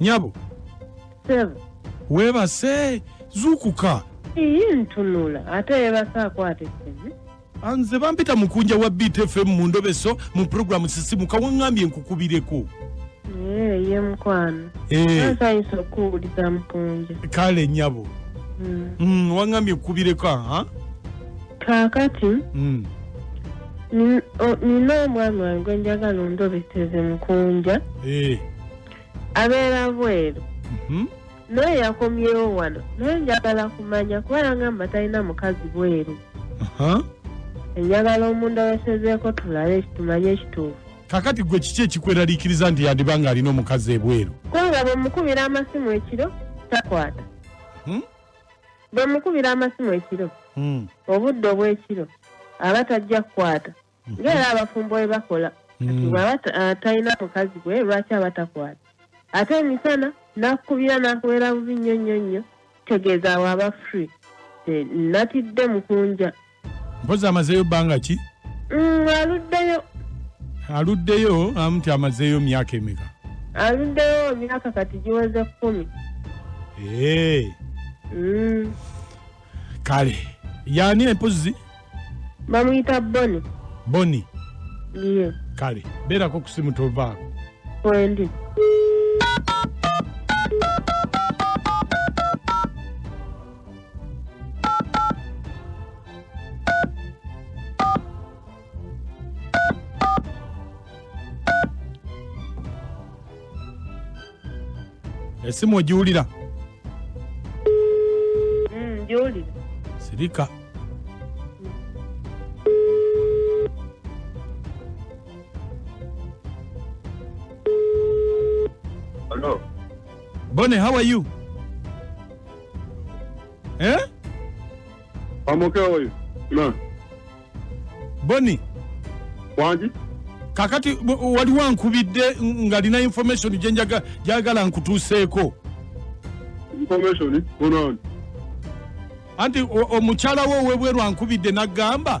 nyabo webase zukuka iyi ntunula ate yebase akwata esene anze bampita mukunja wa btfm mu ndobeso mu programu sisimuka wangambye nkukubireko eh, ye mukwano asayinza eh. okuwuliza mukunja kale nyabo hmm. hmm, wangambye nkukubireko aha kakati hmm. Nin- o- nina omwami wange gwe njagala ondobeteze mukunja Eh, abeera bweru mhm. naye yakomyewo wano naye njagala kumanya kuba yangamba talina mukazi bweru Aha. enjagala omundobesezeeko tulabe tumanye ekituufu kakati gwe kiki ekikweraliikiriza nti yandiba ng'alina omukazi ebweru kubanga bwemukubira amasimu ekiro takwata Hmm? bwe mukubira amasimu ekiro mm. obudde obw'ekiro aba tajja kukwata mhm. ngaera abafumbo we bakola mm. bwaba ah, talina mukazi gwe lwaki aba takwata ate emisana nakukubira nakubeera bubi nnyo nnyo nnyo tegeeza awo aba free natidde mukunja mpozi amazeeyo bbanga ki mm, aluddeyo aluddeyo amu nti amazeeyo myaka emeka aluddeyo myaka kati giweze kkumi ee mm. kale yaani empozi bamuyita boni boni ye kale beerako kusimu tovaako kwendi esimu ogiwulira Mm, ngiwulira sirika Hello. bone how are you eh? amoke oyo na boni wangi kakati bu- waliwo ankubidde ngalina information gyenjaga- gyagala nkutuuseeko information bonaani anti o- omukyala wo owebweru ankubidde nagamba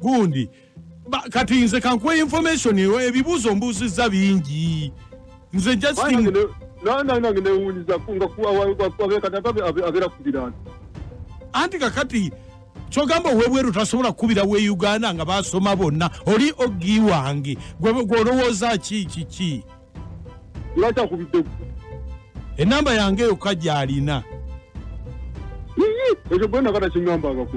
gundi kati nze kankuwa information ebibuuzo mbuuzizza bingi nze justin nanange newunyiza ngaabera kubirana anti kakati kyogamba owebweru tasobola kukubira we uganda nga basoma bonna oli ogi wange gwolowooza ki kiki lwakyakubidde enamba yange yokka gyalina ekyo gwenakata kinyambangako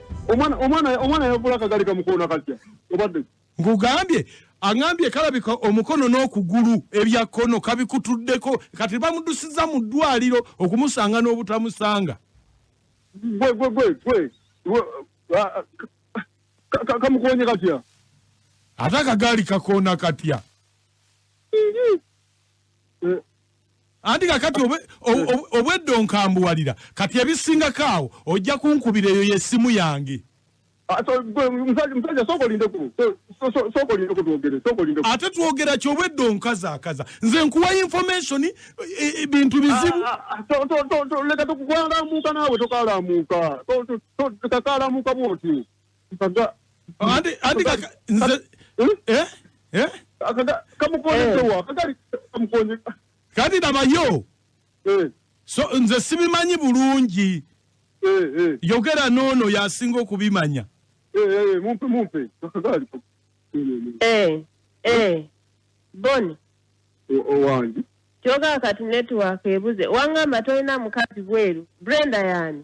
omwana omwana omwana yavula kagali kamukono akatya obadde ngugambye angambye kalabika omukono n'okugulu ebya kono kabikutuddeko kati bamudusiza mu ddwaliro okumusanga n'obutamusanga gwe gwe gwe gwe kamukonye katya ate akagaali kakoona katya eh, anti kakati obwedda onkambuwalira kati ebisingako awo ojja kunkubira eyo yesimu yange ate twogera ki obwedda onkazaakaza nze nkuwa information e, e, bintu bizibu ah, ah, ah, leka tukukalamuuka naawe tokalamuuka kakalamuuka bwoti Kaga- anti anti kaka nze Hmm? eh eh Kaga- kamukonyesewa kagali kamukonye kati labayo Eh, so nze sibimanyi bulungi eh, eh, yogera noono yasinga okubimanya eh, eh, mumpe mumpe kagali Eh, eh. Boni, owange kyoga kati network ebuze. Wangamba tolina mukazi bweru. Brenda yani.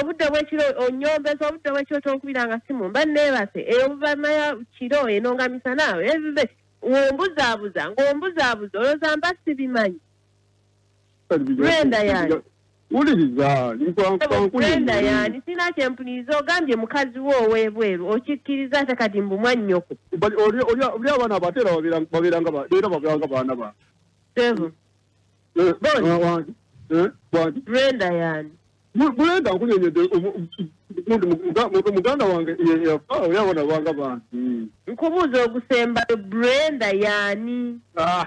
obudde bwekiro onyombeza obudde bwekiro tonkubiranga simu mba nebase eyo buvamaya kiro eno nga misana ebibe wombuzabuza ngaombuzabuza olozamba sibimanyi Brenda yani. wuliriza Brenda yani sirina kyempuliriza ogambye mukazi wo ow'ebweru okikkiriza ate kati mbu mwannyoko oli abaana abo ate era babeeranga baana ba sevu eh, eh, Brenda yani Brenda nkunyonyodde muganda wange yafa oli abaana banga bantu nkubuuza ogusembayo Brenda yani ah,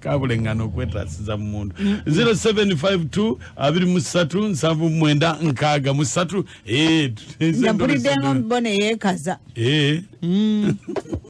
kabulengana okwetasiza mu muntu 0752 abiri mu ssatu nsanvu mwenda nkaaga mu ssatu eh, mpulidde nga mbona yeekaza eh. mm.